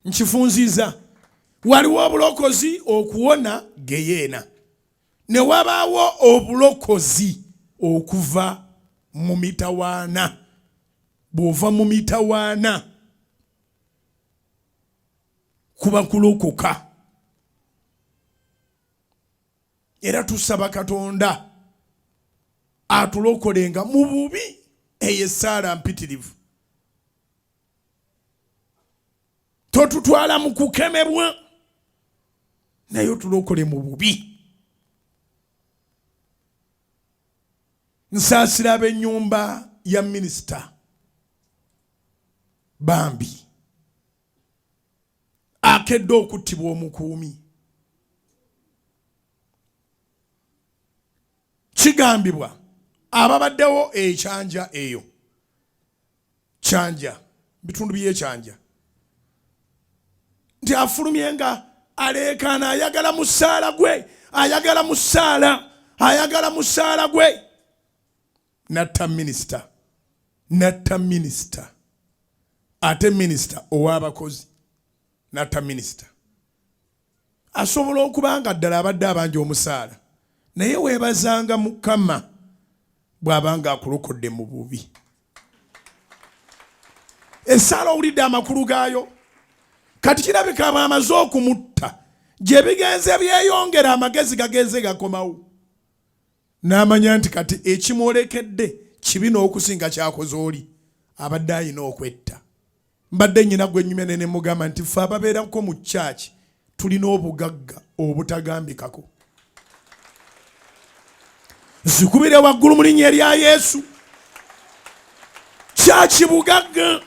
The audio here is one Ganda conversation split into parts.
nkifunziza waliwo obulokozi okuwona geyeena ne wabaawo obulokozi okuva mu mitawaana bw'ova mu mitawaana kuba kulokoka era tusaba katonda atulokolenga mu bubi eyo essaala mpitirivu totutwala mu kukemebwa naye otulokole mu bubi nsaasira ab'ennyumba ya minisita bambi akedde okuttibwa omukuumi kigambibwa ababaddewo ekyanja eyo kyanja bitundu byekyanja nti afulumye nga aleekaana ayagala musaala gwe ayagala musaala ayagala musaala gwe natta minisita natta minisita ate minisita ow'abakozi natta minisita asobola okuba nga ddala abadde abanja omusaala naye weebazanga mukama bw'aba nga akulokodde mu bubi essaala owulidde amakulu gaayo kati kirabika abo amaze okumutta gye bigenze byeyongera amagezi gagenze gakomawo n'amanya nti kati ekimwolekedde kibi n'okusinga kyakoze oli abadde alina okwetta mbadde nyina gwe nyumya nene mugamba nti fe ababeerako mu kyaki tulina obugagga obutagambikako zikubire waggulu mu linnya erya yesu kyaki bugagga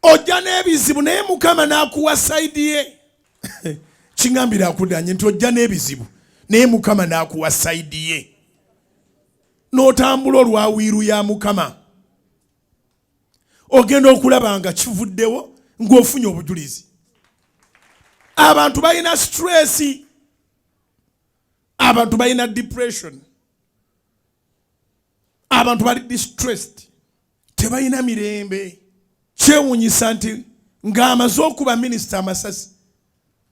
ojja n'ebizibu naye mukama n'akuwa saidi ye kingambire akudanye nti ojja n'ebizibu naye mukama n'akuwa saidi ye n'otambula olwa wiiru ya mukama ogenda okulaba nga kivuddewo ng'ofunye obujulizi abantu balina stress abantu balina depression abantu bali distressed tebalina mirembe kyewunyisa nti ng'amaze okuba minisita amasasi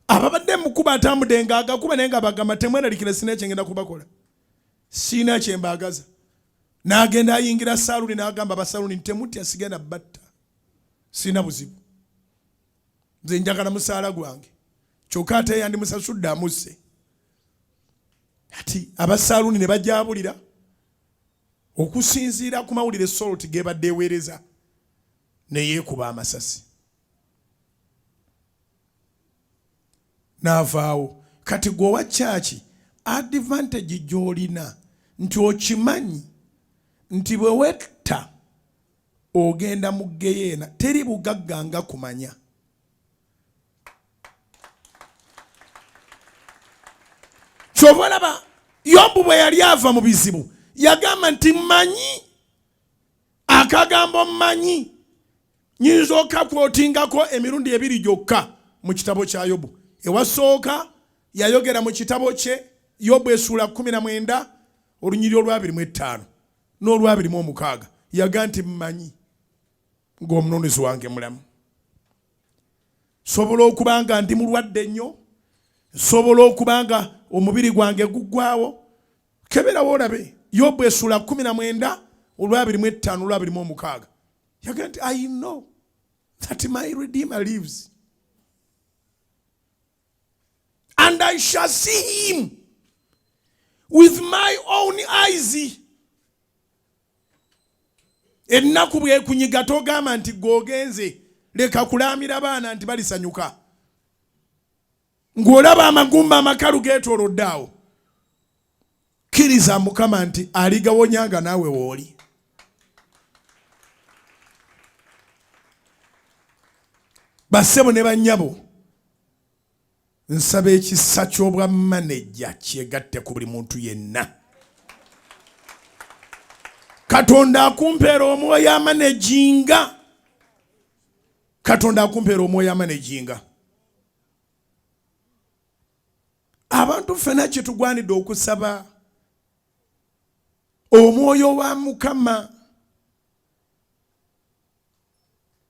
ababadde mukuba atambudde nga agakuba naye nga bagamba temweralikira sina ekyengenda kubakola siina kye mbaagaza n'agenda ayingira saaluni n'agamba abasaluni nti temutya sigenda batta siina buzibu nze njagala musaala gwange kyokka ate yandimusasudde amusse ati abasaaluni ne bajabulira okusinziira ku mawulire soloti gebadde eweereza neyeekuba amasasi n'avaawo kati gwe owa kyaki advantage gy'olina nti okimanyi nti bwe wetta ogenda mu geyeena teri bugagga nga kumanya kyova olaba yobu bwe yali ava mu bizibu yagamba nti manyi akagambo manyi nyinza okakwotingako emirundi ebiri gyokka mu kitabo kya yobu ewasooka yayogera mu kitabo kye yobu esuula 19 olunyiri olwabiri mu ettaano n'olwabiri mu omukaaga yaga nti mmanyi ng'omununuzi wange mulamu nsobola okuba nga ndi mulwadde nnyo nsobola okuba nga omubiri gwange guggwawo keberawo olabe yobu esuula 19 olwabiri mu ettaano olwabiri mu omukaaga yagamba nti i know that my redeemer lives and i shall see him with my own eyes ennaku bwekunyiga togamba nti gwogenze leka kulaamira baana nti balisanyuka ng'olaba amagumba amakalu geetoolodde awo kkiriza mukama nti aligawonya nga naawe wooli bassebo ne bannyabo nsaba ekisa ky'obwa maneja kyegatte ku buli muntu yenna katonda akumpeera omwoyo amanejinga katonda akumpeera omwoyo amanejinga abantu ffena kyetugwanidde okusaba omwoyo wa mukama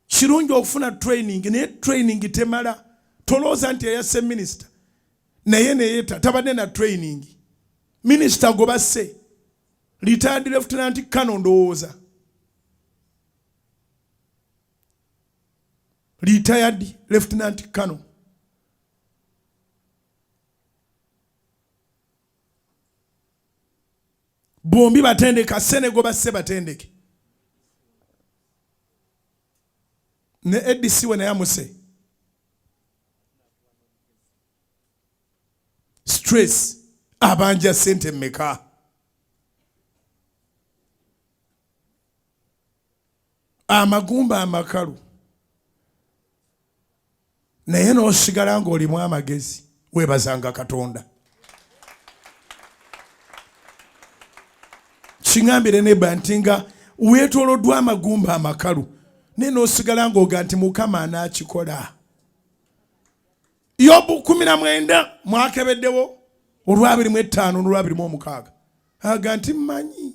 kirungi okufuna training naye training temala tolowooza nti eyase minisita naye neyeta tabadde na training minisita gobase retired lieutenant kano ndowooza retired lieutenant colonel bombi batendeka senego basse batendeke ne adc we naye amuse stress abanja sente meka amagumba amakalu naye n'osigala ng'olimu amagezi weebazanga katonda kiŋambire neba nti nga weetoloddwa amagumba amakalu naye n'osigala ng'oga nti mukama anaakikola yobu kumi na mwenda mwakebeddewo olwabiri mu ettaano n'olwabiri mu omukaaga aga nti mmanyi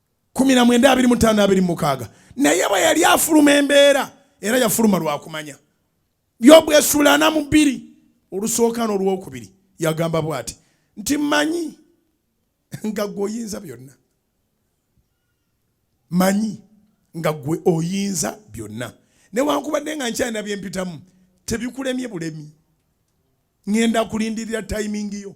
kumi na mwenda abiri mu ttaano abiri mukaaga naye bwe yali afuluma embeera era yafuluma lwakumanya yobu esula ana mu bbiri olusooka n'olwokubiri yagamba bwati nti manyi nga gwe oyinza byonna manyi nga gwe oyinza byonna newankubadde nga nkyalina byempitamu tebikulemye bulemi ŋenda kulindirira tayimingi yo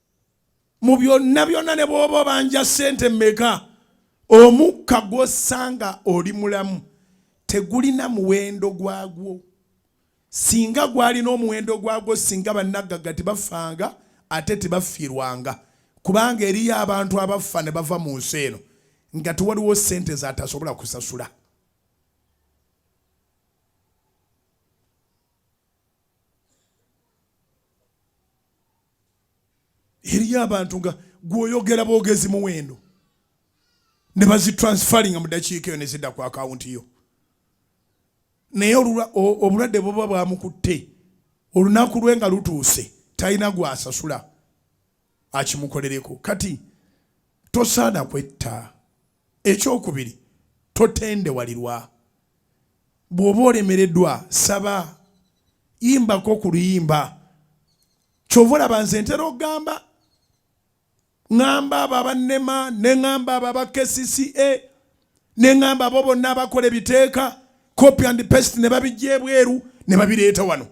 mu byonna byonna ne bw'oba obanja ssente mmeka omukka gw'ossanga oli mulamu tegulina muwendo gwagwo singa gwalina omuwendo gwagwo singa bannaggagga tebafanga ate tebafiirwanga kubanga eriyo abantu abaffa ne bava mu nsi eno nga tewaliwo ssente zatasobola kusasula eriyo abantu nga gwoyogera bwogezi muwendo ne bazitransferinga mu dakiika eyo nezidda ku akawunti yo naye obulwadde buba bwamukutte olunaku lwe nga lutuuse talina gwasasula akimukolereko kati tosaana kwetta Ekyokubiri, totendewalirwa. Bw'oba olemereddwa, saba. Yimbako ku luyimba. Kyova olaba nze ntera okugamba, ŋŋamba abo abannema, ne ŋŋamba abo aba KCCA, ne ŋŋamba abo bonna abakola ebiteeka, copy and paste ne babijja ebweru ne babireeta wano.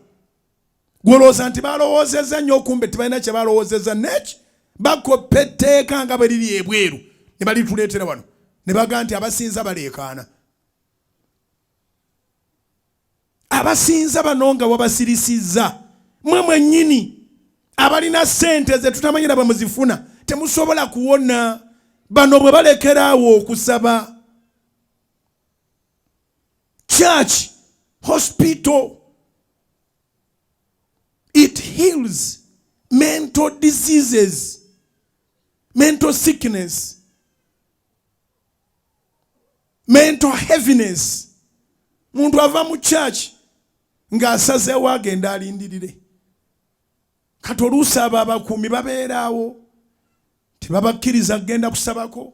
gwolowooza nti balowoozezza nnyo okumbe tibalina kye balowoozezza neki bakoppa etteeka nga bwe liri ebweru ne balituleetera wano ne baga nti abasinza baleekaana abasinza bano nga wabasirisizza mwe mwennyini abalina ssente ze tutamanyira bwe muzifuna temusobola kuwona bano bwe balekeraawo okusaba church, hospital. It heals mental diseases, mental sickness, mental heaviness. Muntu ava mu church nga asazeewo agenda alindirire kati oluusi abo abakuumi babeeraawo tebabakkiriza kugenda kusabako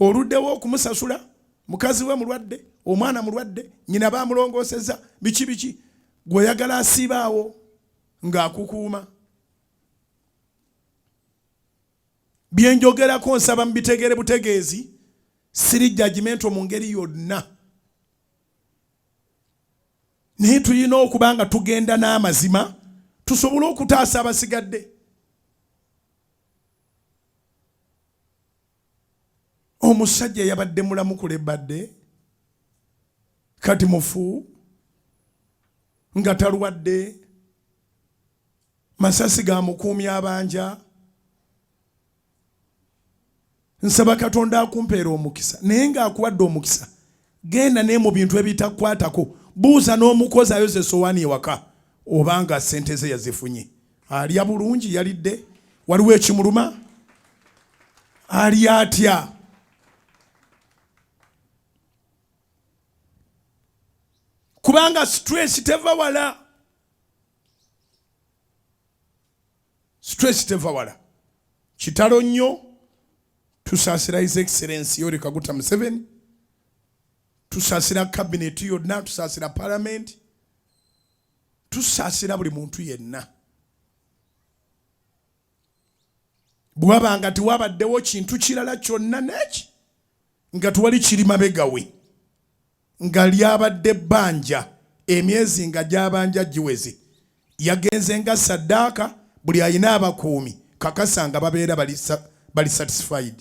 oluddewo okumusasula mukazi we mulwadde omwana mulwadde nyina bamulongoseza biki biki gweoyagala asiibaawo ng'akukuuma byenjogerako nsaba mu bitegere butegeezi siri jajimento mu ngeri yonna naye tulina okuba nga tugenda n'amazima tusobole okutaasa abasigadde omusajja yabadde mulamu kulebadde kati mufu nga talwadde masasi ga mukuumi abanja nsaba katonda akumpeera omukisa naye ng'akuwadde omukisa Genda naye mu bintu ebitakwatako. Buuza n'omukozi ayoza esowaani ewaka oba nga ssente ze yazifunye. Alya bulungi? Yalidde? Waliwo ekimuluma? Alya atya? Kubanga stress teva wala. stress teva wala kitalo nnyo tusaasira his excellence yoweri kaguta museveni tusaasira kabineti yonna tusaasira palamenti tusaasira buli muntu yenna bwaba nga tewabaddewo kintu kirala kyonna neki nga tewali kiri mabegawe nga lyabadde bbanja emyezi nga gyabanja giweze yagenze nga saddaaka buli alina abakuumi kakasa nga babeera bali satisfied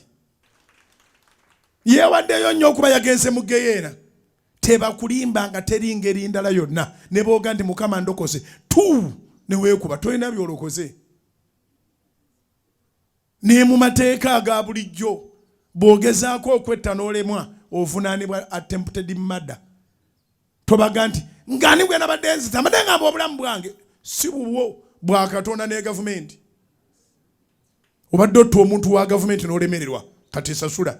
yeewaddeyo nnyo okuba yagenze mu geyeena tebakulimba nga teri ngeri ndala yonna ne booga nti mukama ndokoze tu neweekuba tolina byolokoze Ne mu mateeka aga bulijjo bw'ogezaako okwetta n'olemwa ovunaanibwa attempted murder. Tobaga nti ng'ani gwe nabadde nzita mbadde ngamba obulamu bwange si bubwo bwa Katonda ne gavumenti. Obadde otta omuntu wa gavumenti n'olemererwa kati sasula.